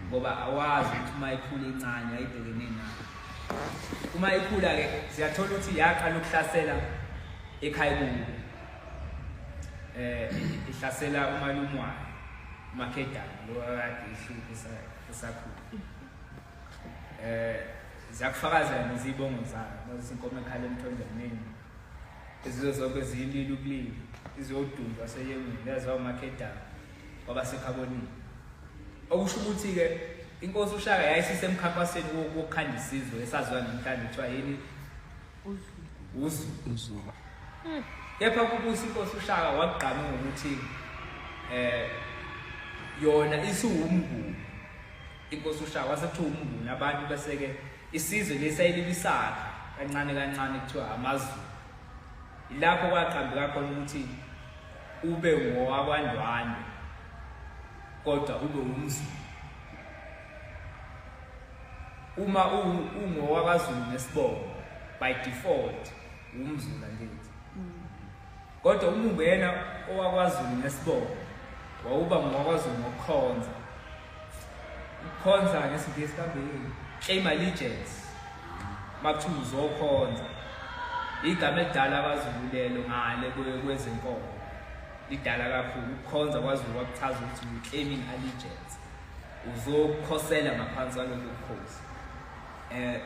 ngoba awazi ukuthi uma ikhula incane ayibhekene nayo uma ikhula-ke siyathola ukuthi yaqala ukuhlasela ekhaya kubo um eh, ihlasela umalumwayo umakhedana lo akade ihluphe esakhula eh ziyakufakazela nezibongo zayo nozinkomo ekhala emthonjeni izizo zonke ziyilile ukulila iziyodundwa seyemini lezawo makedama kwaba sekhabonini okusho ukuthi-ke inkosi ushaka yayisisemkhankasweni wokukhanda isizwe esaziwa namhlanje kuthiwa yini uzu hmm. kepha kubusa inkosi ushaka wakugqama ngokuthi um yona isiwumnguni Inkosi uShaka wase kuthiwa umnguni abantu bese-ke isizwe lesayililisakha kancane kancane kuthiwa amaZulu. Ilapho kwaqambeka khona ukuthi ube ngowakwaNdwandwe kodwa ube umZulu. Uma ungowakwaZulu nesibongo by default umZulu angithi. Kodwa uma ungena owakwazulu nesibongo wawuba ngowakwazulu ngokukhonza ukukhonza ngesingisi kambili claim allegiance makuthiwa uzokhonza igama elidala abazululelo ngale kwezenkolo lidala kakhulu ukukhonza kwazulu kwakuchaza ukuthi uclaiming allegiance uzokhosela ngaphansi kwalokho bukhosi eh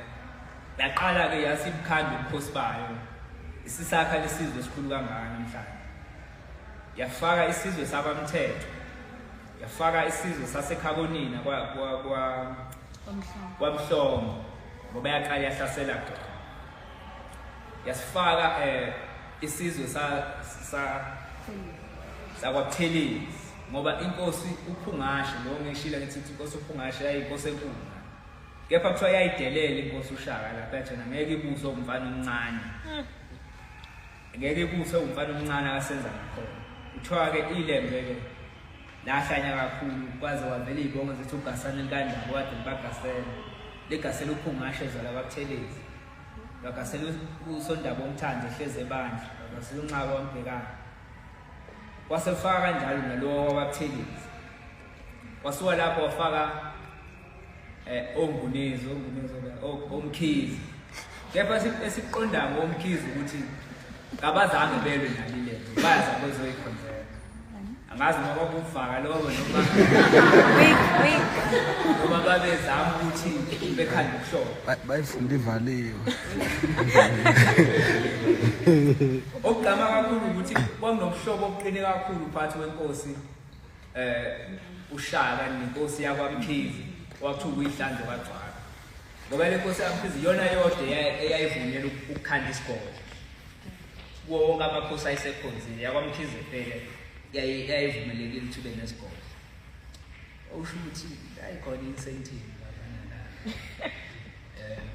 yaqala ke yasibukhanda ubukhosi bayo isisakha lesizwe esikhulu kangaka namhlanje yafaka isizwe sabamthetho yafaka isizwe sasekhabonina kwa kwa kwa kwamhlomo ngoba yaqala yahlasela khona yasifaka eh isizwe sa sa sakwatheleni ngoba inkosi uphungashe lo ngishila ngithi inkosi uphungashe yayinkosi enkulu kepha kuthiwa yayidelela inkosi ushaka lapha yathena ngeke ibuse umfana omncane hmm. ngeke ibuse umfana omncane akasenza ngakhona kuthiwa-ke ilembe-ke lahlanya kakhulu kwaze wavela iy'bongo zithi ugasane likanjabo wade libagasele ligasele uphungashe zala kwabuthelezi bagasele usondaba omthandi ehlezi ebandla bagasele unxaba wambhekana kwasefaka kanjalo nalowo wababuthelezi wasuka lapho wafaka eh ongunezi ongunezi omkhizi kepha esiqondayo ngomkhizi ukuthi kabazange belwe nali le bayaza bezoyikhonzela angazi noma kubufaka lokho noma noma babezama ukuthi bekhanda ukuhlobo bayifunda ivaliwe okugqama kakhulu ukuthi kwakunobuhlobo obuqine kakhulu phakathi wenkosi eh ushaka nenkosi yakwamkhizi wathi uyihlanze kwagcwala ngoba le nkosi yakwamkhizi yona yodwa eyayivunyela ukukhanda isigodlo kuwo wonke amakhosi ayisekhonzile yakwamkhizi phela yayivumelekile ukuthi ube nesigodlo usho ukuthi ayikhona incentive um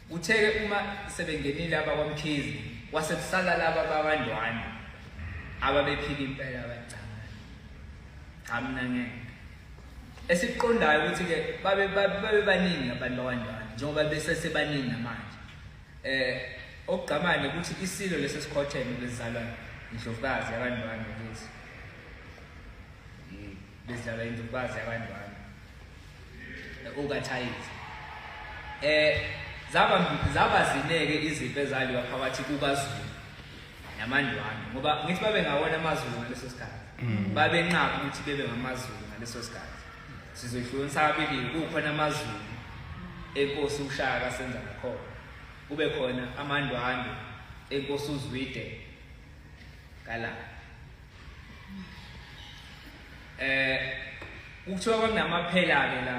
Uthe ke uma sebengenile abakwaMkhize wase kusala laba bakwaNdwani ababephika impela abacangana. Cha mina ngeke. Esikuqondayo ukuthi ke babe babe baningi abantu bakwaNdwani njengoba bese sebaningi namanje. Eh okugqamane ukuthi isilo lesi sikhotheme bezizalwa indlovukazi yakwaNdwani ukuthi bezidlala indumbazi yakandwana okathayizi eh zaba zaba zineke izimpi ezaliwa phakathi kukazulu namandwana ngoba ngithi babe ngawona amazulu ngaleso sikhathi mm. babe nqaba ukuthi bebe ngamazulu ngaleso sikhathi sizohlukana sabili kukhona amazulu enkosi ushaka senza ngakhona kube khona amandwandwe enkosi uzwide kala eh ukuthiwa kwakunamaphela ke la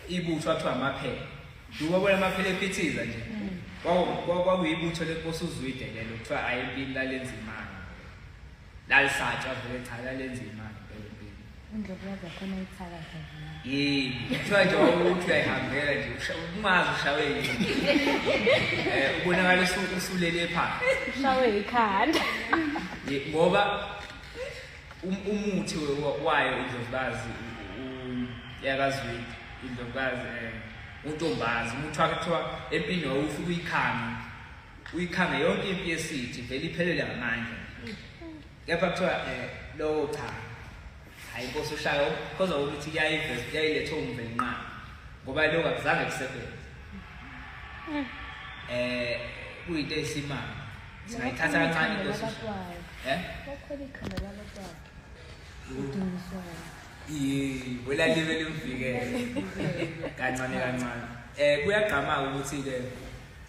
ibutho athiwa amaphela duka bona amaphela ephithiza nje kwakuyibutho lenkosi uzwide lelo kuthiwa ayempini lalenzimana lalisatshwa vele cha lalenzimana yini kuthiwa nje wawukuthi uyayihambela nje ungazi ushawe yini um ubonakala usulele phansi ushawe yikhanda ngoba um-, umuthi wayo indlovukazi yakazwidi indlovukazi um untombazi umuthi wakhe kuthiwa empini wawufika uyikhange uyikhange yonke impi yesithi vele iphelele ngamandla kepha kuthiwa um lowo cha hhayi inkosi ushayo khoza ukuthi yayilethe umvelinqaba ngoba lokhu akuzange kusebenze um kuyinto eyisimanga singayithatha kancane inkosi um bolalibe limvikele kancane kancane um kuyagqama-ke ukuthi-ke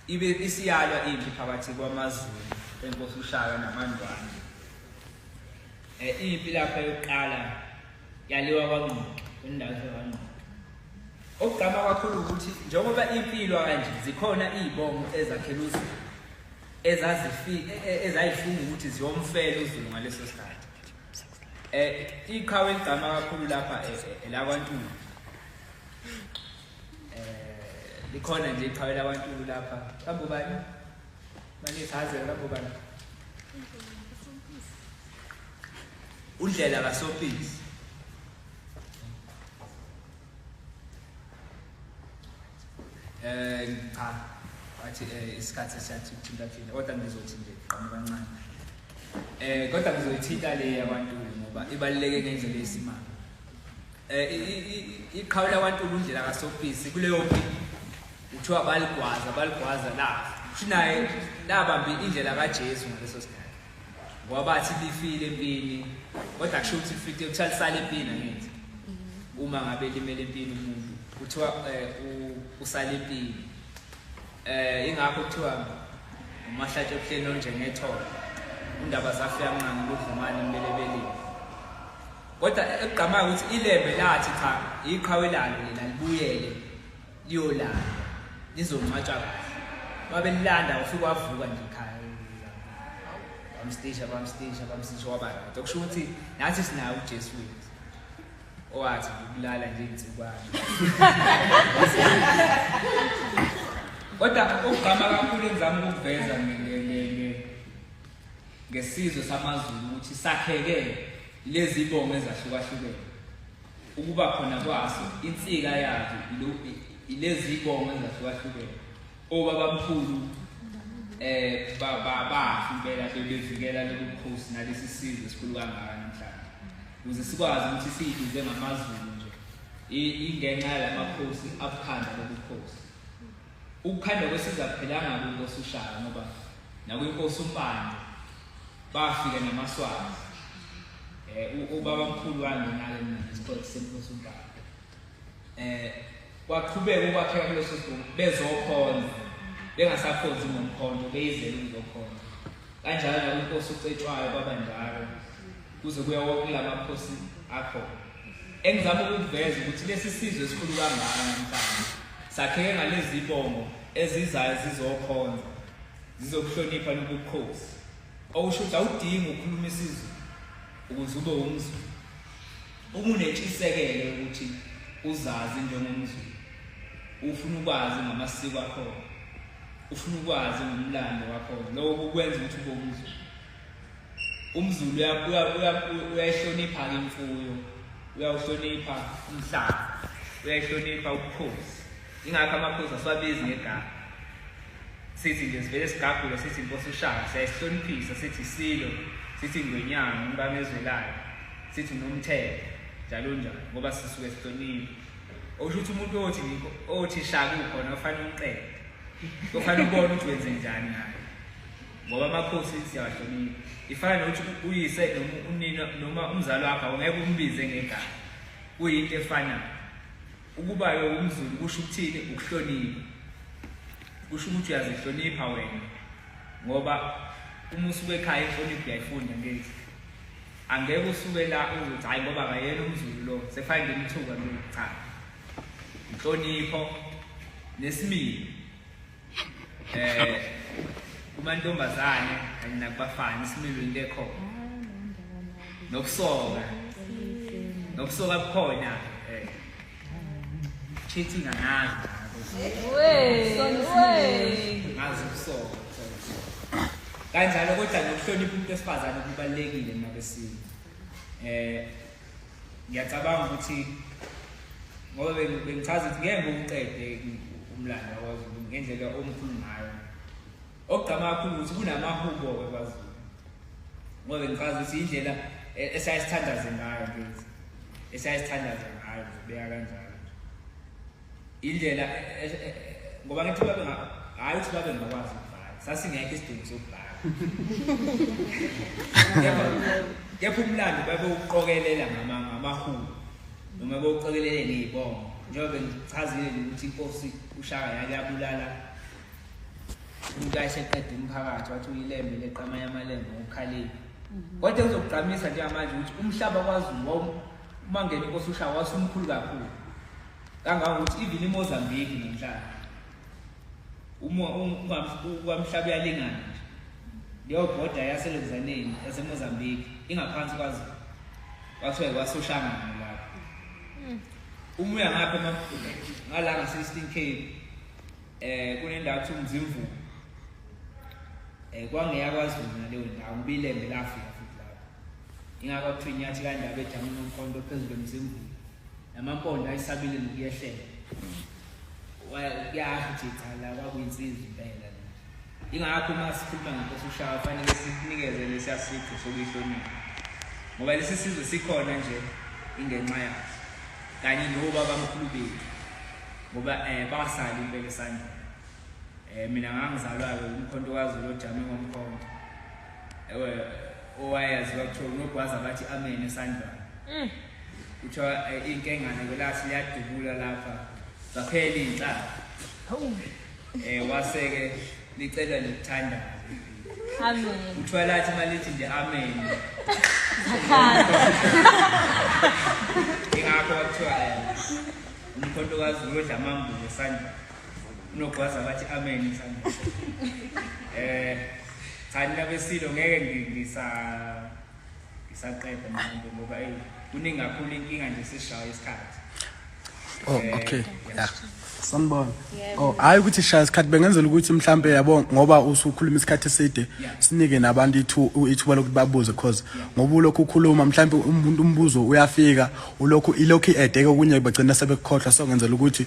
Ibe isiyalwa impi phakathi kwamaZulu enkosi uShaka namaNdwandwe. Eh impi lapha yokuqala yaliwa kwaNgqoke, indawo yaNgqoke. Okugqama kakhulu ukuthi njengoba impilo kanje zikhona izibongo ezakhela uZulu ezazifi e, e, ezayifunga ukuthi ziyomfela uZulu ngaleso sikhathi. Eh iqhawe eligqama kakhulu lapha eh, eh, elakwaNtuli. Eh likhona nje iqhawe labantu lapha. Kambe ubani? Manje sihaze kambe ubani? Undlela kaSophisi. Eh cha wathi eh, isikhathi esiyathi ukuthinta thina kodwa ngizothi nje qhamuka kancane. Eh kodwa ngizoyithinta le yabantu ngoba ibaluleke ngendlela esimanga. eh iqhawe lakwantulu undlela kasofisi kuleyo kuthiwa baligwaza baligwaza la shinaye labambi indlela kaJesu ngaleso sikhathi ngoba bathi lifile empini kodwa kusho ukuthi lifile kuthiwa lisale empini angithi mhm. uma ngabe limele empini umuntu kuthiwa eh, usale empini eh ingakho kuthiwa umahlatshe obuhleni onjengetholo undaba zafika mncane kudlumane mbelebeleni Kodwa ekugqamayo ukuthi iLembe lathi cha iqhawe lalo lena libuyele liyolala lizoncwatshwa kahle. Babelilanda ufike wavuka nje ekhaya. Bamstisha bamstisha bamstisha waba right. Okusho ukuthi nathi sinayo uJesu wethu. Owathi ukulala nje insikwana. Kodwa ukugqama kakhulu engizama ukuveza mina Ngesizwe samaZulu ukuthi sakheke lezi bongo ezahlukahlukene ukuba khona kwaso insika yazo ilezi bongo ezahlukahlukene obabamkhulu eh babafi impela bebevikela lobukhosi nalesi sizwe esikhulu kangaka namhlanje ukuze sikwazi ukuthi siyiduze ngamaZulu nje ingenxa yalamakhosi abukhanda lobukhosi Ukukhandwa kwesizwe akuphelanga kwinkosi uShaka ngoba nakwinkosi uMpande bafika namaswazi um ubaba mkhulu wangenake mina ngesikole senkosi uMpande um kwaqhubeka ukwakheka kuleso sibongo bezokhonza bengasakhonzi ngomkhonto beyizele ukuzokhonza kanjalo nakwinkosi ucetshwayo kwabanjalo kuze kuya wonke la makhosi akhona Engizama ukukuveza ukuthi lesi sizwe esikhulu kangaka namhlanje sakheke ngalezi bongo ezizayo zizokhonza zizokuhlonipha nobukhosi okusho ukuthi awudingi ukukhuluma isizulu ukuze ube umzulu uma unetshisekelo ukuthi uzazi njengomzulu ufuna ukwazi ngamasiko akho ufuna ukwazi ngomlando wakho lokho kwenza ukuthi ube umzulu umzulu uyayihlonipha-ke imfuyo uyawuhlonipha umhlaba uyayihlonipha ubukhosi ingakho amakhosi asiwabizi ngegama sithi nje sivele sigagule sithi nkosi ushaka siyayisihloniphisa sithi silo sithi ngwenyanga umkamezwelayo sithi nomthetho njalo njalo ngoba sisuke sihlonipha okusho ukuthi umuntu othi othi shaka ukhona ufanele umqede ufanele ubone ukuthi wenze njani ngayo ngoba amakhosi siyawahlonipha ifana nokuthi uyise unina noma umzali wakho awungeke umbize ngegama kuyinto efanayo ukuba yowumzulu kusho ukuthini ukuhlonipha kusho ukuthi uyazihlonipha wena ngoba uma usuke ekhaya inhlonipho uyayifunda ngezi angeke usuke la uzothi hhayi ngoba akayena umzulu lo sefane ngemthuka lo cha inhlonipho nesimilo eh kumantombazane kanye nakubafana isimilo into ekhona nokusoka nokusoka kukhona eh cheating angazi ngazi ukusoka kanjalo kodwa nokuhlonipha umuntu wesifazane kubalulekile nabesini eh ngiyacabanga ukuthi ngoba bengichaza ukuthi ngeke ngiwuqede umlando wakwaZulu ngendlela omkhulu ngayo okugqama kakhulu ukuthi kunamahubo-ke kwaZulu ngoba bengichaza ukuthi indlela e-, esayesithandaze ngayo kithi esayesithandaze ngayo ngibeka kanjalo indlela eh, eh, ngoba ngithi babe hayi ukuthi babe ngakwazi ukubhala sasingekho isidingo sokubhala kepha umlando babewuqokelela ngamahulu noma bewuqokelele ngey'bongo njengoba bengichazile ukuthi inkosi ushaka yake yabulala umuntu ayeseqeda umphakathi wathi uyilembe leqama yamalembe ngokukhalile kodwa kuzokugqamisa njengamanje ukuthi umhlaba kwazulu umangeni inkosi ushawa wasumkhulu kakhulu kangangokuthi even imozambique namhlanje ukwamhlaba uyalingana nje leyo bhoda yaselenzaneni yasemozambique ingaphansi kwazi kwathiwa kwasoshangana lapho hmm. uma uya ngapha ngala ngasestin cape um kunendawo kuthiwa umzimvumo um eh, kwangeyakwazi wona leyo ndawo ngibilembe lafika Ingakho kuthiwa inyathi kandaba ejama nomkhondo phezulu emzimbulu. Namampondo ayisabile nokuyehlela. Wayakuyasho ukuthi cha la kwakuyinsizwa impela. Ingakho uma sikhuluma ngenkosi uShaka kufanele sinikeze lesi asiqo sokuyihlonipha. Ngoba lesi sizwe sikhona nje ingenxa yaso. Kanye nobaba mkhulu bethu. Ngoba eh basali impela esandla. Eh mina ngangizalwa ke umkhonto kaZulu ojame ngomkhonto. Ewe owayazi kwakuthiwa unogwaza bathi amen esandlwana. Mm. Kuthiwa eh, inkengane kwelathi liyadubula lapha. Zaphela inhlaka. Hawu. Eh waseke licela lithanda. Amen. Kuthiwa lathi malithi nje amen. Ingakho kuthiwa eh, umkhonto kaZulu odla amambulo esandlwana. unogwaza bathi amen mhlawumbe eh cha nina besilo ngeke ngisa ngisaqeda manje ngoba hey kuningi kakhulu inkinga nje sishaya isikhathi oh eh, okay yeah sanibona oh hayi ukuthi shaya isikhathi bengenzela ukuthi mhlambe yabo ngoba usukhuluma isikhathi eside sinike nabantu ithu ithuba lokuthi babuze cause ngoba ulokhu ukhuluma mhlambe umuntu umbuzo uyafika ulokhu ilokhu edeke okunye bagcina sebekukhohlwa so ngenzela ukuthi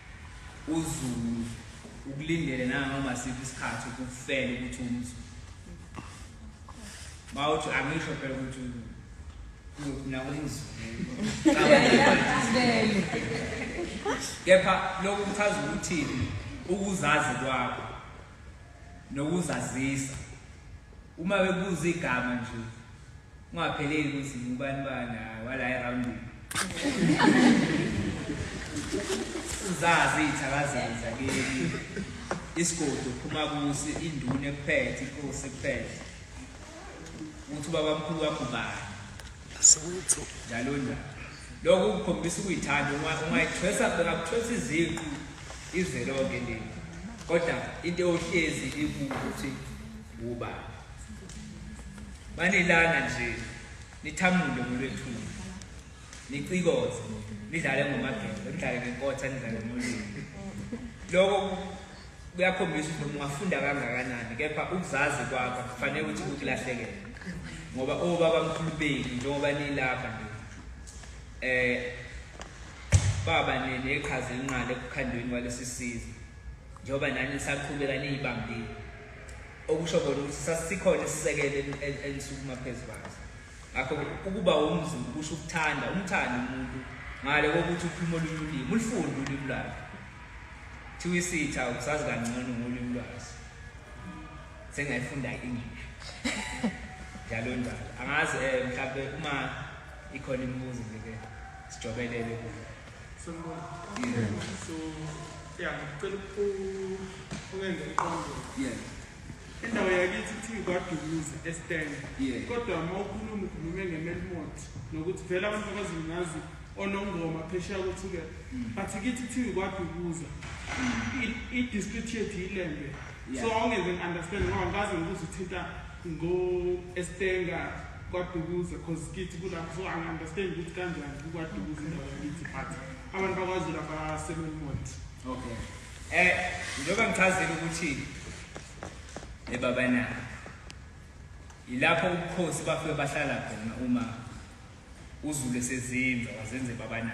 uzulu ukulindele nanoma siphi isikhathi ukufela ukuthi umzulu bawuthi angisho phela ukuthi kuyofuna umzulu kepha lokhu kuchaza ukuthini ukuzazi kwakho nokuzazisa Uma bebuza igama nje ungapheleli ukuthi ngubani bani hayi wala eroundini. Uzazi ithakazaza kimi. Isigodi uphuma kusi induna ekuphethe inkosi ekuphethe. Uthi babamkhulu wakho bani? Asewethu njalo njalo. Lokhu kukhombisa ukuyithanda uma ungayithwesa bengakuthwesa iziqu izwe lonke leli. Kodwa into ohlezi ikukuthi uba banilana nje nithamule ngolwethuli nicikoze nidlale ngomagelo nidlale ngenkotha nidlale ngolimi lokho kuyakhombisa ukuthi noma ungafunda kangakanani kepha ukuzazi kwakho kufanele ukuthi kukulahlekele ngoba obaba mkhulu benu njengoba nilapha nje eh baba nene iqhaza elinqala ekukhandweni kwalesi sizwe njengoba nani nisaqhubeka niyibambile okusho kona ukuthi sasikhona isisekelo enisukuma phezu kwaso Ngakho ukuba umZulu kusho ukuthanda, umthande umuntu ngale kokuthi ukhuluma olunye ulimi, ulifunde ulimi lwakhe. Thiwa isitha ukusazi kangcono ngolimi lwaso. Sengayifunda i-English. Njalo njalo. Angazi eh mhlawumbe uma ikhona imibuzo nje ke sijobelele kuyo. Sanibona. Yeah. So, yeah, ngicela uku ungenza iqondo. Yeah. Indawo yakithi kuthiwa kwaDumuza eStern. Yeah. Kodwa uma ukhuluma ukhulume ngeMelmot nokuthi vele abantu abazungazi onongoma phesheya kothuke. But kithi kuthiwa kwaDumuza. I- I-district yethu yilembe. Yeah. So awungeze ngi-understand ngoba ngikaze ngibuze uthinta ngo-estenga kwadukuza cause kithi kulapho so angi-understand ukuthi kanjani kukwadukuza indawo yakithi but abantu bakwazulu abasemelmont Okay. Eh, njengoba ngichazile ukuthi ebaba na yilapho ubukhosi bafike bahlala khona uma uzulu esezinza wazenze baba na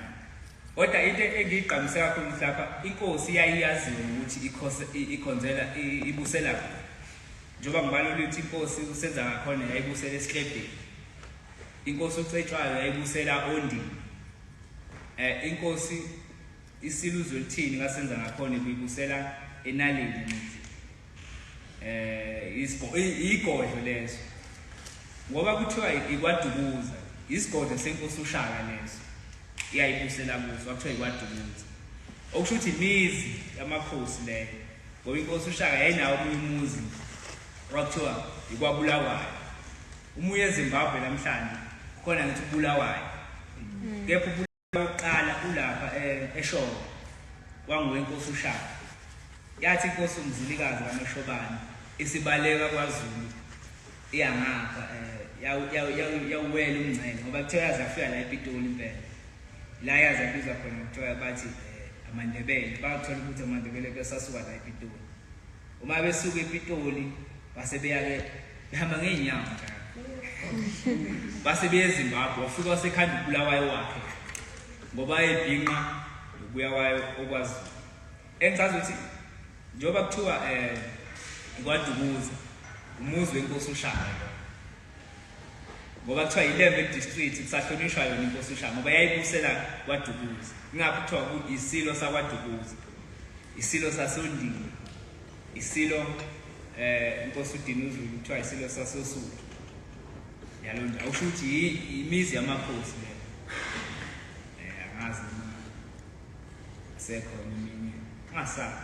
kodwa into engiyigqamise kakhulu mhlapha inkosi yayiyaziwe ukuthi ikhose ikhonzela ibusela njengoba ngibalo lithi inkosi usenza ngakhona yayibusela esihlebheni inkosi ucetshwayo yayibusela ondini eh inkosi Isilo uzolithini kasenza ngakhona ibuyibusela enaleni ngithi eh isgo igodlo leso ngoba kuthiwa ikwadukuza isigodlo senkosi ushaka leso iyayibusela kuso kwakuthiwa ikwadukuza okusho ukuthi imizi yamakhosi leyo ngoba inkosi ushaka yayinawo omunye umuzi kwakuthiwa ikwabulawayo umuye ezimbabwe namhlanje khona ngithi ubulawayo mm. kepha Okokuqala ulapha eh, eShowe kwangowenkosi uShaka. Yathi inkosi uMzilikazi kaMashobane isibaleka kwaZulu iyangapha eh, yawuwela umngcele ngoba kuthiwa yaze yafika la ePitoli impela. La yaze yabizwa khona kuthiwa bathi eh, amaNdebele. Bathola ukuthi amaNdebele besasuka la ePitoli. Uma besuka ePitoli base beya ke behamba ngeenyawo base beya eZimbabwe wafika wasekhanda uBulawayo wakhe ngoba ebhinqa nokuya kwayo okwazi engichaza ukuthi njengoba kuthiwa um eh, kwadumuza umuzi wenkosi ushaya ngoba kuthiwa yilembe district kusahlonishwa yona inkosi ushaka ngoba yayibusela kwadukuza ingakho kuthiwa isilo sakwadukuza isilo sasondini isilo eh inkosi udinuzulu kuthiwa isilo sasosuthu yalo ndawo usho ukuthi yimizi yamakhosi le eh angazi noma asekhona eminye angasazi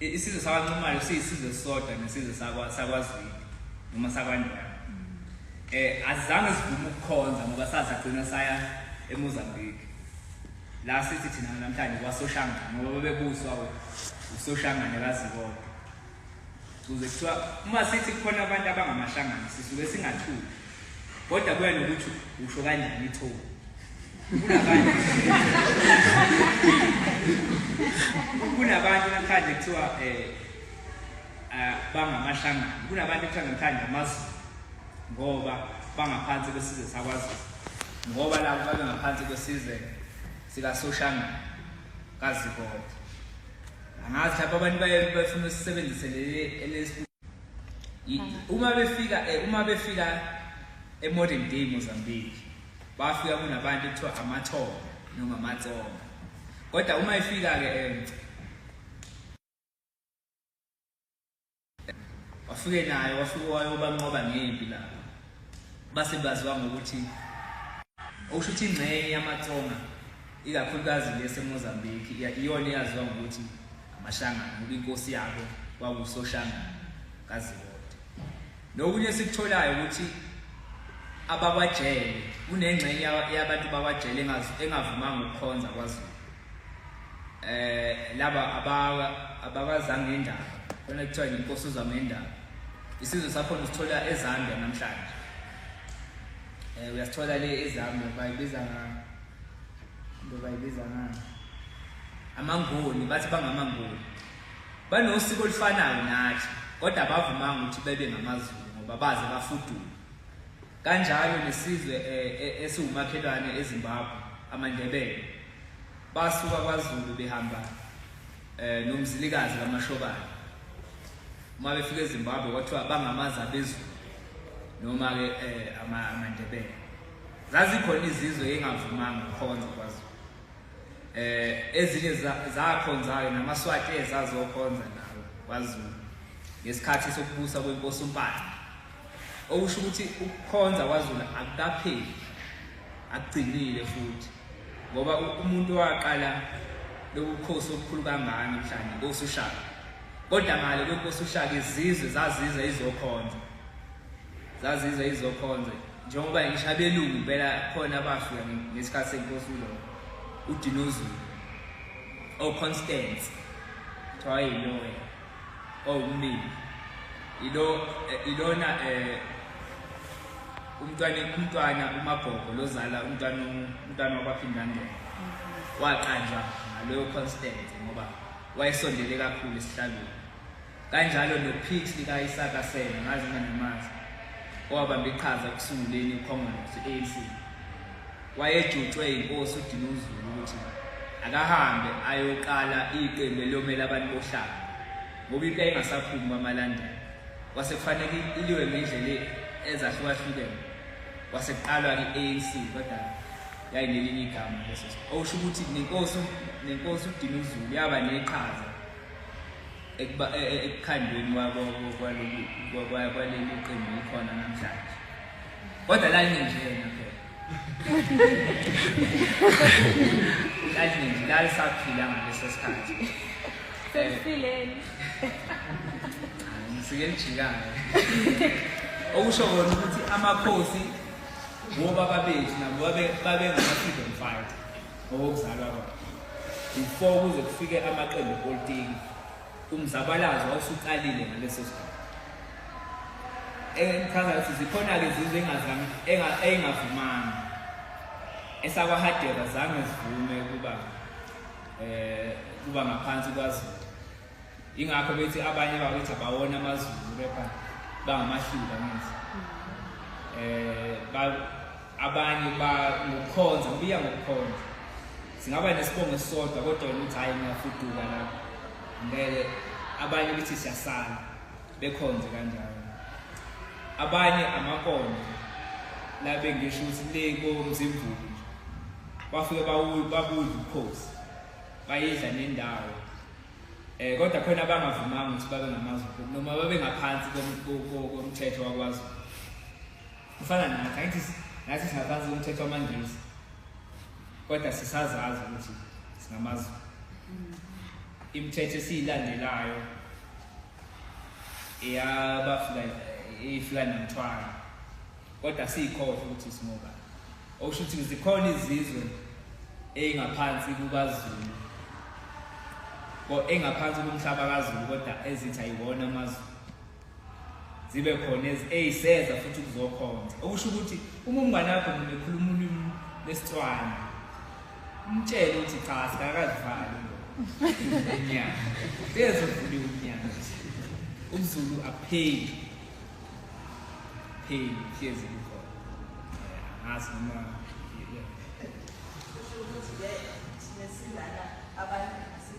isizwe sakwancumayo siyisizwe sisodwa nesizwe sakwazwidi noma sakwandana um eh, azange sivume ukukhonza ngoba sazagcina saya emozambique la sithi thina namhlanje kwasoshangane ngoba bebuswa usoshangane kazikodwa kuze kuthiwa uma sithi kukhona abantu abangamahlangani sisuke singathuki kodwa kuya nokuthi usho kanjani ithoba kunabantu kunabantu namhlanje kuthiwa um bangamahlangani kunabantu ekuthiwa namhlanje amazulu ngoba bangaphansi kwesizwe sakwazulu ngoba labo babengaphansi kwesizwe sikasoshangana kazikodwa angazi lapho abantu baye bafuna usisebenzise leli uma befika eh, uma befika emodern day Mozambique bafika kunabantu kuthiwa amathonga noma amatsonga kodwa uma ifika ke eh, wafike naye wafike wayobanqoba ngempi lapho base baziwa ngokuthi okusho ukuthi ingxenye yamatsonga ikakhulukazi lesemozambique iyona eyaziwa ngokuthi amashangana ngoba inkosi yabo kwakusoshangana kazibode nokunye esikutholayo ukuthi abakwajele kunengxenye yabantu bakwajele engavumanga ukukhonza kwazulu eh laba abawa abakazange indaba khona kuthiwa inkosi uzama indaba isizwe sakho nisithola ezambia namhlanje eh uyasithola le ezambia bayibiza ngani into bayibiza ngani amanguni bathi bangamanguni banosiko olufanayo nathi kodwa bavumanga ukuthi bebe ngamazulu ngoba baze bafudule Kanjalo nesizwe eh, eh, esiwumakhelwane eZimbabwe amaNdebele basuka kwaZulu behamba eh nomzilikazi kaMashobane uma befika eZimbabwe kwathiwa bangamazi abezulu noma ke eh amaNdebele zazikhona izizwe engavumanga ukukhonza kwaZulu eh ezinye zakhonzayo namaSwati ezazokhonza nawo kwaZulu ngesikhathi sokubusa kwenkosi uMpande okusho ukuthi ukukhonza kwaZulu akukapheli akugcinile futhi ngoba umuntu owaqala lokukhosi okukhulu kangaka mhlawumbe inkosi uShaka kodwa ngale kwenkosi uShaka izizwe zaziza izokhonza zaziza izokhonza njengoba ngisho abelungu impela khona abafika ngesikhathi senkosi ulo udinozulu oconstance oh, kuthiwa yilona owumnini ilo eh, ilona eh umntwana umntwana umagogo lozala umntwana umntwana wakwaphindandela waqanjwa ngaloyo constant ngoba wayesondele kakhulu esihlabeni kanjalo nophix likayisaka sena ngazi nganemazi owabamba iqhaza ekusunguleni ikhongolose i-anc Wayejutshwe yinkosi uDinuzulu ukuthi akahambe ayoqala iqembu eliyomela abantu bohlanga ngoba into engasaphumi kwamalandela kwase kufanele iliwe ngendlela ezahlukahlukene kwase kuqalwa i-anc kodwa yayinelinye igama leso okusho ukuthi nenkosi nenkosi udinuzulu yaba neqhaza e, e, ekukhandweni kwaleli qembu likhona namhlanje kodwa lalinendlela Lalinje lalisaphila ngaleso sikhathi. Sesifileni. Sike lijikayo. Okusho kona ukuthi amakhosi wobaba bethu nabo babe babe ngama-freedom fighter ngokokuzalwa kwabo before kuze kufike amaqembu epolitiki Umzabalazo wawusuqalile ngaleso sikhathi. Engichaza ukuthi zikhona-ke izizwe engingavumanga. EsakwaHadebe zange zivume ukuba eh kuba ngaphansi kwaZulu. Ingakho bethi abanye bakwethu abawona amaZulu kepha bangamashila ngithi. Eh ba abanye ba ngokukhonza kuya ngokukhonza singaba nesibongo esisodwa kodwa wena uthi hhayi ngiyafuduka la ngeke abanye ukuthi siyasala bekhonze kanjalo abanye amakonde la bengisho ukuthi le komzimvulo nje bafike babudla ubukhosi bayidla nendawo um kodwa khona abangavumanga ukuthi babe ngamazulu noma babengaphansi komthetho wakwaZulu kufana nathi angithi nathi singaphansi komthetho wamangisi kodwa sisazazi ukuthi singamazulu imithetho esiyilandelayo eyabafika ifika namthwalo kodwa siyikhohle ukuthi singoba okusho ukuthi zikhona izizwe eyingaphansi kukazulu engaphansi komhlaba kazulu kodwa ezithi ayiwona amazulu zibe khona eziseza futhi kuzokhonza okusho ukuthi uma umngane wakho noma ekhuluma ulimi lesitswana umtshele ukuthi cha sikakazivali enyanga sezovuliwe unyanga umzulu apheli pheli hlezi kukhona ngazi noma ukuthi-ke thina silana abantu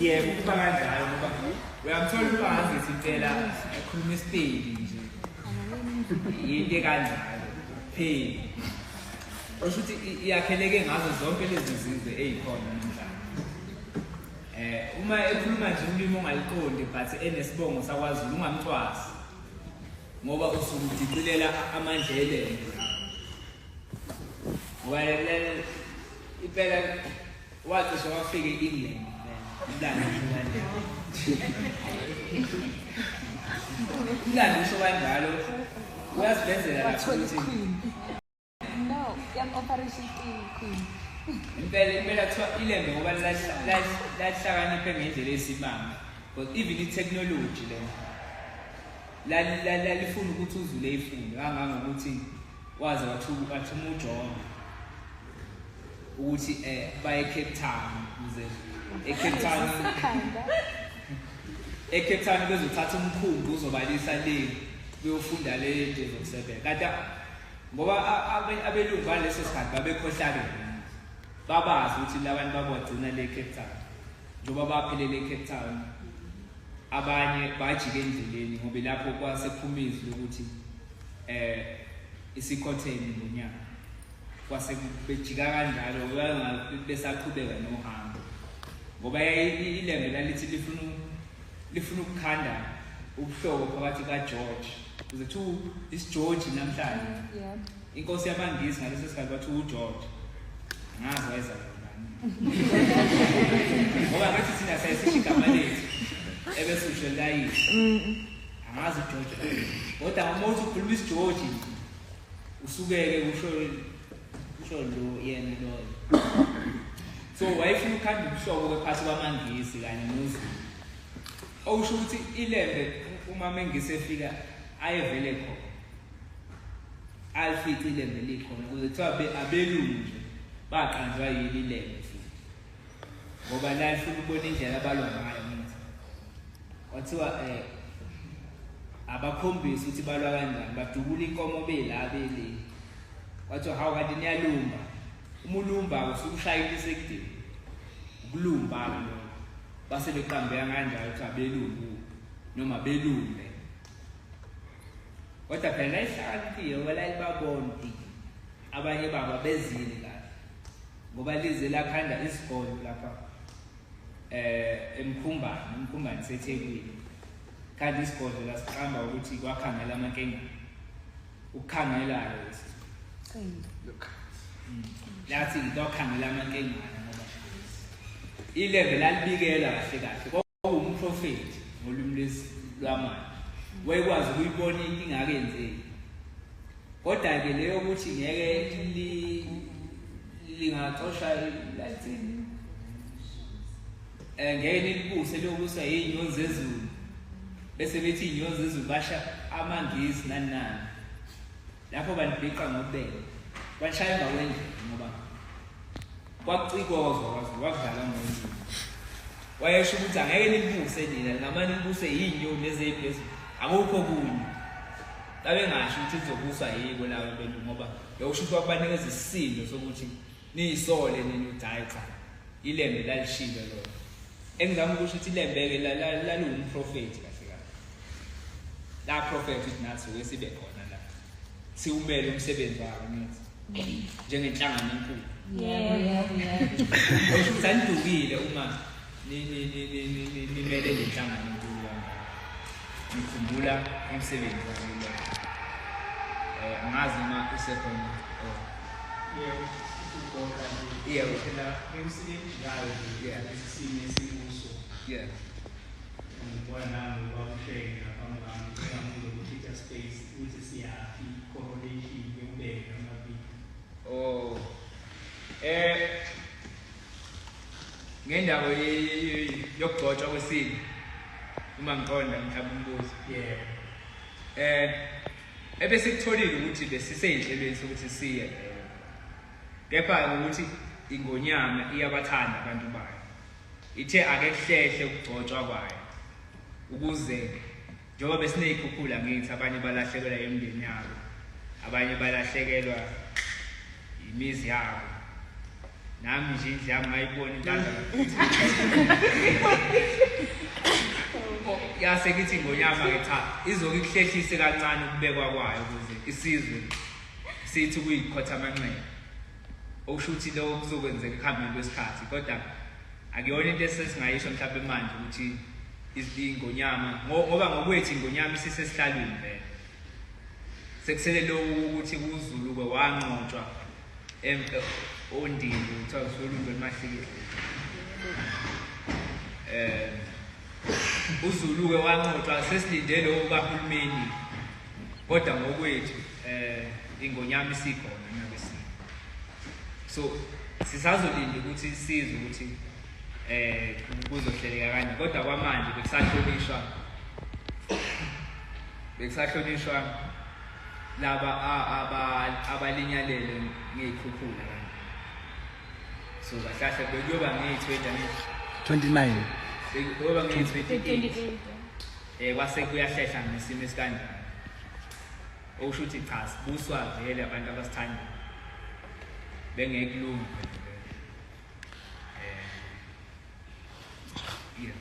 yebo kuba kanjalo ngoba uyamthola umfazi sicela akhulume isipedi nje yinto ekanjalo pheli osho ukuthi iyakheleke ngazo zonke lezi zizwe eyikhona namhlanje um uma ekhuluma nje ulimi ongaliqondi but enesibongo sakwazulu ungamcwasi ngoba usumdicilela amandla elele ngoba impela Wacishe wafika e-England umlando umlando usho kanjalo uyazivenzela wathola iqueen no yam operation iqueen impela impela kuthiwa ilembe ngoba lahlakaniphe ngendlela esimanga but even i-technology lena lalifuna ukuthi uzule ifunde kangangokuthi waze wathuka wathuma uJohn ukuthi eh baye Cape Town kuze eCape Town eCape Town bezothatha umkhumbi uzobalisa le kuyofunda le into zokusebenza kanti ngoba abelungu baleso sikhathi babekhohlakele babazi ukuthi labantu babagcina le Cape Town njengoba baphelele eCape Town abanye bajike endleleni ngoba lapho kwasephuma izwi lokuthi eh isikhotheni ngonyaka kwase bejika kanjalo besaqhubeka nohambo ngoba ilembe lalithi lifuna lifuna ukukhanda ubuhlobo phakathi kaGeorge kuze thu isiGeorge namhlanje yeah inkosi yabangisi ngaleso sikhathi bathi uGeorge ngazi wayeza ngoba ngathi thina sayisisho igama lethu ebese usho layini angazi ugeorge kodwa uma uthi ukhuluma isigeorge usukeke usho usho lo yena loyo so wayefuna ukukhanda ubuhlobo kwephathi kwamangisi kanye nozulu okusho ukuthi ilembe uma mengisi efika ayevele khona alifice ilembe likhona kuze kuthiwa abelungu nje baqanjwa yini ilembe ngoba la lifuna ukubona indlela abalwa ngayo ngithi kwathiwa eh abakhombisa ukuthi balwa kanjani badubula inkomo bela beli kwathiwa hawu kanti niyalumba uma ulumba usukushayile isekudini ukulumba lo base beqambeka kanjalo ukuthi abelumbu noma belumbe kodwa phela ihlakaniphiwe wala ibabona Abanye baba bezile kahle ngoba lize lakhanda isikole lapha eh emkhumbani emkhumbani sethekwini kanti isikole lasiqamba ukuthi kwakhangela amankenga ukukhangela lesi qinda mm. lathi kwakhangela amankenga ngoba ilembe lalibikela kahle kahle Wawumprofethi ngolimi lwesi lwamanje. Wayekwazi ukuyibona into ingakenzeki. Kodwa ke leyo ukuthi ngeke li lingaxosha lathini. Eh ngeke nikubuse lokusa inyonzi ezulu. Bese bethi inyonzi ezulu basha amangizi nani nani. lapho bandibhiqa ngobele kwashaya emva kwendlela ngoba kwakucikozwa kwaze kwakudlala ngoyini wayesho ukuthi angeke nilibuse nina lingamane libuse yinyoni nezeyiphezulu akukho kunye babengasho ukuthi lizobuswa yiko lawo bentu ngoba bewusho ukuthi wakubanikeza isisindo sokuthi Niyisole nini uDayixa? Ilembe lalishilo lona. Engizama ukusho ukuthi ilembeke laliwumprofethi kahle kahle. La prophet ukuthi nathi wesibe khona la. Siwumele umsebenzi wakhe nithi. Njengenhlangano enkulu. Yebo, yebo, yebo. Usho ukuthi anidukile uma nimele le nhlangano enkulu kangaka ngikhumbula umsebenzi wamile um eh, angazi noma usekhona oh. Yeah. Yeah. ngendawo yokugcotshwa kwesini uma ngiqonda mhlawumbe umbuzo yeah eh ebesikutholile ukuthi besiseyinhlelweni sokuthi siye kepha ukuthi ingonyama iyabathanda abantu bayo ithe ake kuhlehle ukugcotshwa kwayo ukuze Njengoba besiney'khukhula ngithi abanye balahlekelwa yemndeni yabo, abanye balahlekelwa yimizi yabo. Nami nje indlu yami ngayibona intanda yase kithi ngonyama ke cha izoke ikuhlehlise kancane ukubekwa kwayo ukuze isizwe sithi kuyikhotha amanxeba okusho ukuthi lokho kuzokwenzeka ekuhambeni kwesikhathi kodwa akuyona into esesingayisho mhlawumbe manje ukuthi izingonyama ngoba ngokwethu ingonyama isisesihlalweni vele sekusele lokhu ukuthi kuzuluke wanqotshwa ondini kuthiwa kusolundwe emahlikile um uzuluke wanqotshwa sesilinde lowo kahulumeni kodwa ngokwethu um ingonyama isikhona nakwesinye so sisazolinda ukuthi sizwe ukuthi um kuzohleleka kanje kodwa kwamanje bekusahlonishwa bekusahlonishwa laba abalinyalele ngey'khukhula kanje so kahlahle bekuyoba ngeyi-twenty 29 bekuyoba ngeyi-twenty eight Eh kwase kuyahlehla ngesimo esikanjani. Okusho ukuthi cha sibuswa vele abantu abasithanda. Bengekulunga. Eh. Yeah.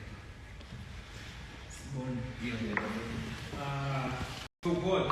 Sibona. Yeah. Ah. Uh, so good.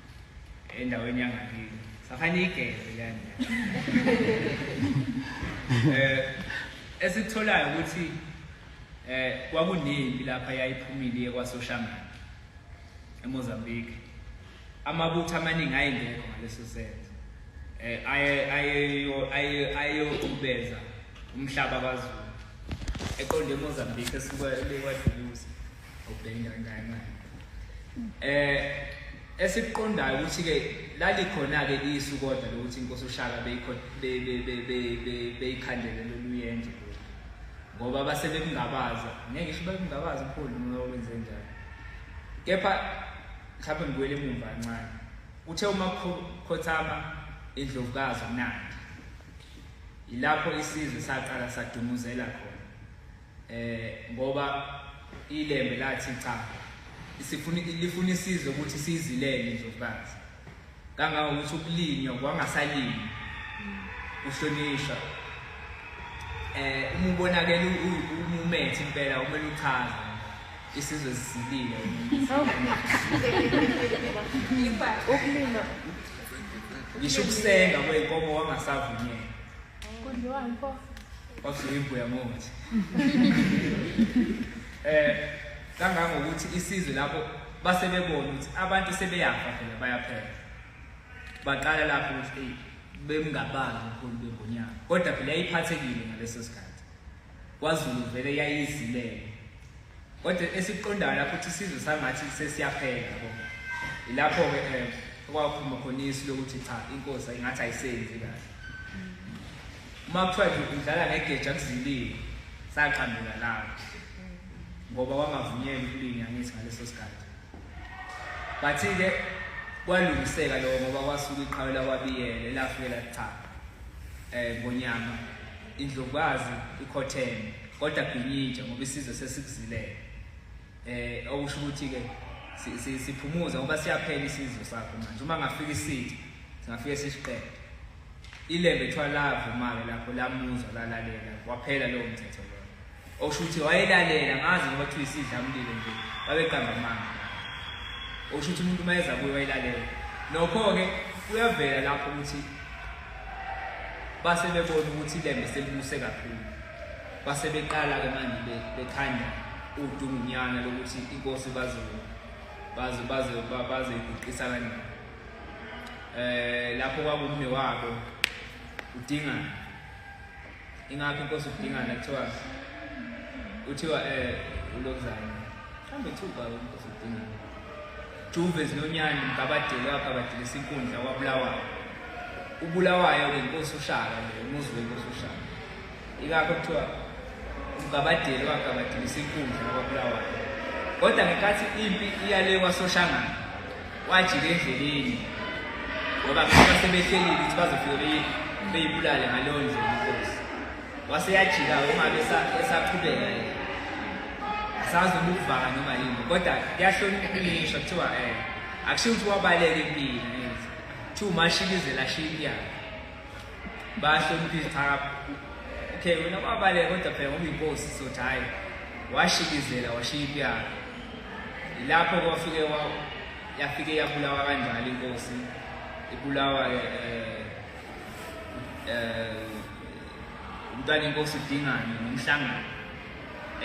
endaweni yangakini safanele igeze kanje eh esikutholayo ukuthi eh kwakunempi lapha yayiphumile iye kwaSoshamani eMozambique amabutho amaningi ayengekho ngaleso senzo eh aye aye aye aye ukubeza umhlaba kwaZulu eqonde eMozambique esuka eLewadulusi obhekile kangakanani eh esikuqondayo ukuthi ke lalikhona ke isu kodwa lokuthi inkosi ushaka beyikhona beyikhandele loluyenje ngoba base bekungabaza ngeke isho bekungabaza upholi noma wenze njani kepha mhlawumbe ngibuyele emumva kancane uthe uma khothama indlovukazi umnandi yilapho isizwe saqala sadumuzela khona eh ngoba ilembe lathi cha isifuni lifuna isizwe ukuthi sizilele indlovukazi kangangokuthi ukulinywa kwangasalinywa uhlonishwa eh uma ubonakela umumethi impela kumele uchaze isizwe sisilile ukulima ngisho ukusenga kweyinkomo wangasavunyela Kondliwa mfo. Wasuyibuya ngothi. Eh kangangokuthi isizwe lapho base bebona ukuthi abantu sebeyafa phela bayaphela. Baqala lapho ukuthi hey bemngabazi ukhulu bengonyaka. Kodwa phela yayiphathekile ngaleso sikhathi. KwaZulu vele yayizilele. Kodwa esikuqondayo lapho ukuthi isizwe sangathi sesiyaphela yabo. Ilapho-ke um eh, okwaphuma khona isu lokuthi cha inkosi ingathi ayisenzi kahle. Uma kuthiwa nje udlala ngegeja kuzilile saqambela lapho. Ngoba wangavunyelwa ukulinya ngithi ngaleso sikhathi. Bathi-ke kwalungiseka lokho ngoba kwasuka iqhawe lakwabiyele lafike lakuchapha um ngonyama Indlovukazi ikhotheme kodwa ginyintsha ngoba isizwe sesikuzilele. Eh okusho ukuthi ke siphumuza ngoba siyaphela isizwe sakho manje uma ngafika isitha singafike sisiqede ilembe kuthiwa lavumake lapho lamuzwa lalalela waphela lowo mthetho Osho ukuthi wayelalela ngazi ngoba kuthiwa isidla mlilo nje babeqamba amanga. Osho ukuthi umuntu mayeza kuye wayilalela. Nokho-ke kuyavela lapho ukuthi base bebona ukuthi ilembe selibuse kakhulu. Base beqala-ke manje bekhanda udungunyana lokuthi inkosi bazo bazo bazo bazo iguqisa kanjani. Eh lapho kwakumne wabo udingana ingakho inkosi udingana kuthiwa kuthiwa um eh, ulokuzana mhlawumbe kuthiwa ubaba inkosi udingana juve zinonyani mgabadeli wagabadilisa inkundla wabulawayo ubulawayo ke inkosi ushaka le umuzi wenkosi ushaka ingakho kuthiwa umgabadeli wagabadilisa inkundla wabulawayo kodwa ngenkathi impi iyale kwasoshangana wajika endleleni ngoba kusuka sebehlelile ukuthi bazofike beyibulale ngaleyo ndlela inkosi wase yajika-ke ungabe esaqhubeka yena asazi noma ukuvaka noma yini kodwa kuyahloniphisha kuthiwa um akushiwo ukuthi wabaleka empini kuthiwa umashikizela shiki yakhe bahlonipha izithakabu okay wena kwabaleka kodwa phela ngoba inkosi sothi hhayi washikizela washiya impiyaka ilapho kwafike yafike yabulawa kanjalo inkosi ibulawa um um umntwana inkosi udingane nomhlangano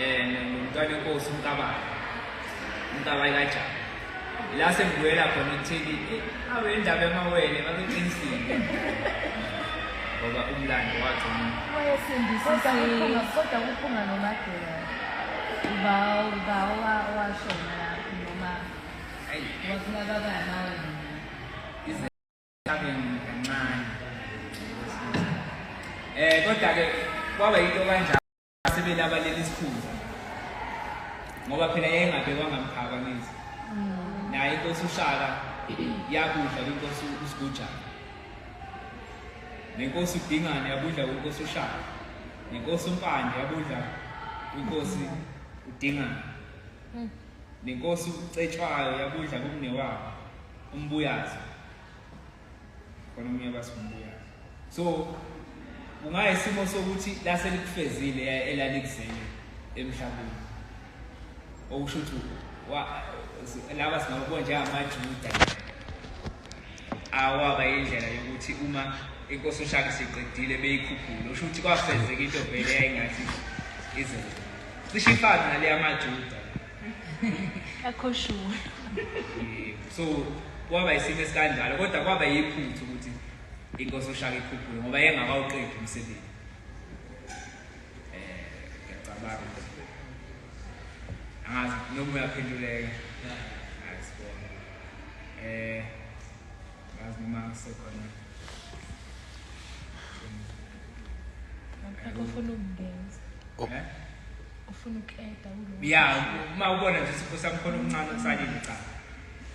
um ngumntwana enkosi umkabayo umkabayi kajaba la sengibuyela khona ekutheni eh, awe indaba emawele babeqinisile ngoba umlando wathi kodwa kuphunga nomadela uba uba washona lapho noma waphuma babaya mawele izinhlabeni kancane um eh, kodwa-ke kwaba yinto kanjalo sebelabalela isikhundla ngoba phela yayengabekwanga mphakamizi mm. naye inkosi ushaka yakudla kwinkosi usigujana nenkosi udingane yabudla kwinkosi ushaka nenkosi umpande yabudla kwinkosi udingane mm. nenkosi ucetshwayo yabudla kumnewabo umbuyazi khona omunye abasibuya so kungayisimo sokuthi lase likufezile elalikuzele emhlabeni okusho ukuthi laba singabona njengamajuda awaba indlela yokuthi uma inkosi ushaka siqedile beyikhuphule usho ukuthi kwafezeka into vele yayingathi ize cishe ifana naleya majuda akho shuwa so kwaba isimo esikanjalo kodwa kwaba yiphuthu ukuthi inkosi ushaka ikhuphuke ngoba yengakawuqedi umsebenzi eh ngiyacabanga angazi noma uyaphenduleka ayisibona eh ngazi noma sekhona akufuna ukungena ufuna ukeda kulo ya uma ubona nje isipho samkhona omncane osalile cha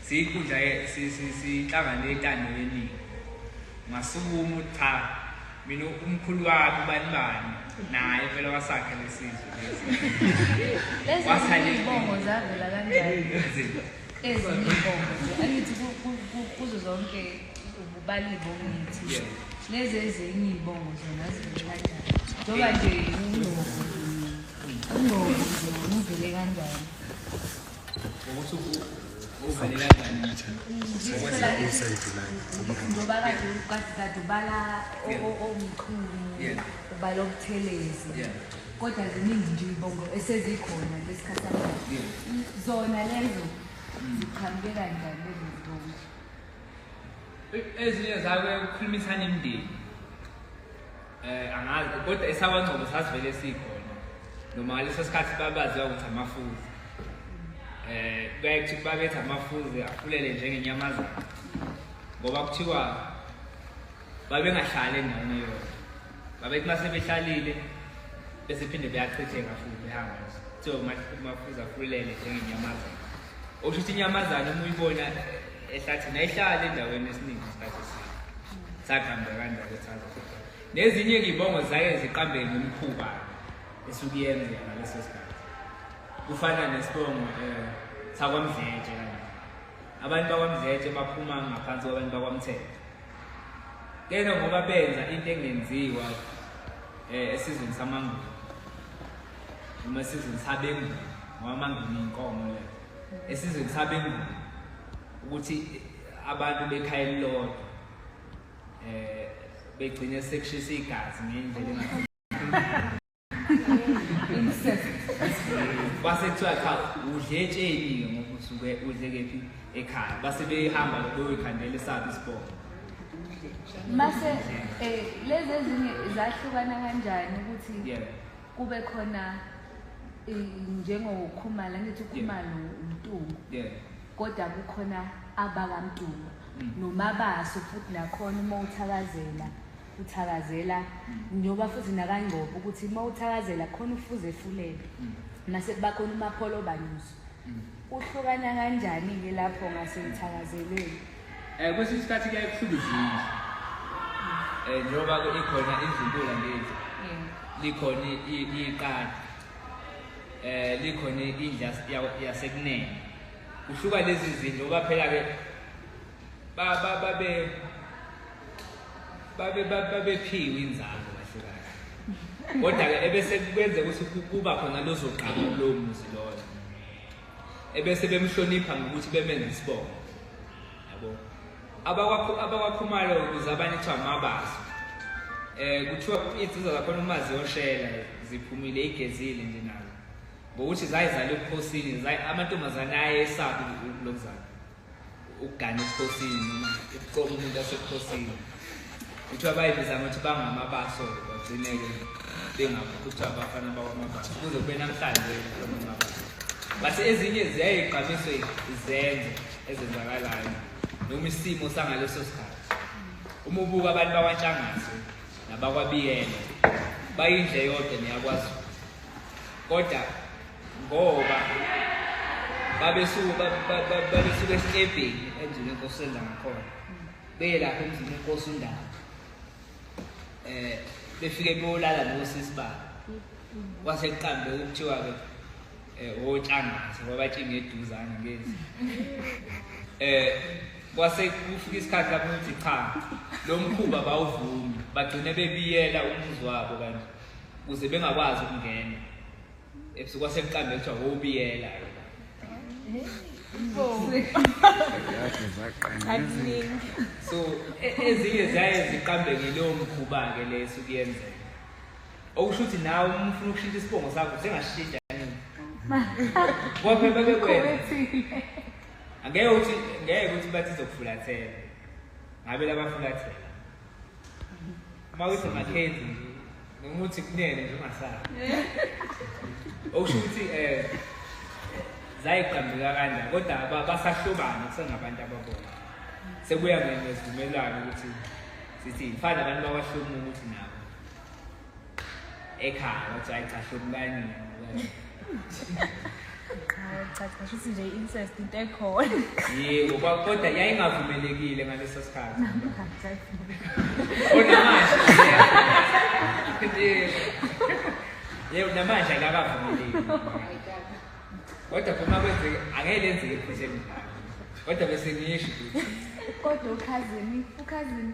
siyinkundla sihlangane etando yeningi masukuma cha mina umkhulu wami ubani bani naye phela wasakhe lesizwe lesi wasale ibongo zavela kanjani ezinye ibongo angithi kuzo zonke Ubalibo ngithi lezi ezinye iy'bongo zona zivele kanjani njengoba nje ungozi ungozi nje ngivele kanjani njengoba kade kade kade ubala o- o- omkhulu Yeah. ubala obuthelezi Yeah. kodwa ziningi nje iy'bongo esezikhona lesikhathi samanje zona lezo ziqhamuke kanjani lezo zibongo ezinye zabe ukukhulumisana imindeni eh angazi kodwa esakwaNgcobo sasivele sikhona noma ngaleso sikhathi babaziwa ukuthi amafuzi eh kuyaye kuthiwa babethi amafuzi afulele njengenyamazana ngoba kuthiwa babengahlali endaweni eyodwa babethi uma sebehlalile bese phinde beyachitheka futhi behamba kuthiwa umafuza afulele njengenyamazane okusho ukuthi inyamazane uma uyibona ehlathini ayihlali endaweni esiningi isikhathi eside sagamba kanjalo saza nezinye ngibongo zaye ziqambe ngomkhuba esuke yenze ngaleso sikhathi kufana nesibongo um eh, sakwamdletshe kanje abantu bakwamdletshe baphuma ngaphansi kwabantu bakwamthetho Kena ngoba benza into engenziwa eh esizweni samangulo. Uma esizweni sabengu ngoba mangulo inkomo le. Esizweni sabengu ukuthi abantu bekhaya elilodwa eh begcine sekushisa igazi ngendlela engathi base kuthiwa cha udle etsheni-ke ngoba usuke udle kephi ekhaya base behamba beyoyikhandela esaphi isibongo mase eh lezi ezinye zahlukana kanjani ukuthi yeah kube khona eh, njengokhumala ngithi ukhumalo umtungu yeah kodwa kukhona abakamtungu mm. nomabaso futhi nakhona uma uthakazela uthakazela njengoba futhi nakangcobo ukuthi uma uthakazela khona ufuze efulele mase kuba khona umapholo obanyuso uhlukana kanjani-ke lapho ngasekuthakazelweni um eh, kwesinye isikhathi kuyaye kuhluka izinto um eh, njengoba ikhona izintula ngezi likhona iqadi eh likhona indla yasekunene kuhluka lezi zinto ngoba phela-ke babephiwe inzalo kahle kahle kodwa-ke ebese kwenze ukuthi kuba khona lozogqama kulowo muzi loyo ebese bemhlonipha ngokuthi bemenza isibongo yabo abakwakhumalo ukuze abanye kuthiwa mabazi um eh, kuthiwa izinsizwa zakhona uma ziyoshela ziphumile igezile nje nazo ngokuthi zayizala ebukhosini amantombazane ayesaphi lokuzala ukugana ebukhosini noma ukuqoma umuntu asebukhosini kuthiwa bayibiza ngokuthi bangamabaso bagcine-ke bengakuthiwa abafana bakwamabaso kuze kube namhlanje amabaso but ezinye ziyayigqamiswe izenzo ezenzakalayo noma isimo sangaleso sikhathi uma ubuka abantu bakwanhlangase nabakwabiyela bayindle yodwa niyakwazi kodwa ngoba babesuke babesuke esitebheni endlini enkosi senza ngakhona beye lapho emzini enkosi undaba eh befike beyolala nosisi babo kwase kuqambe ukuthiwa-ke eh, um otshangaze kwabatshinga eduzana ngezi um eh, kwase kufika isikhathi lapho ukuthi cha lo mkhuba bawuvumi bagcine bebiyela umuzi wabo kanje kuze bengakwazi ukungena ebusuku wasebuqambe kuthiwa wobiyela so e- ezinye ziyaye ziqambe ngileyo mkhuba-ke le esuke yenzeka okusho ukuthi nawe uma ufuna ukushintsha isibongo sakho sengashintsha nini kwabe bebe kwena angeke ukuthi ngeke ukuthi bathi izokufulathela ngabe labafulathela uma uthi makhenzi nje noma uthi kunene nje ungasali okusho ukuthi um zayiqambeka kanja kodwa basahlobana kusengabantu ababona sekuya ngezivumelwano ukuthi sithi mfana abantu bawahlomula ukuthi nabo ekhaya wathi hayi cha hlubukanile kusho nje incest into ekhona yebo kodwa yayingavumelekile ngaleso sikhathi onamanje yebo namanje akakavumeleki kodwa phuma kwenzeke angeke lenzeke iphuthe emdlalo kodwa bese ngisho kodwa ukhazini ukhazini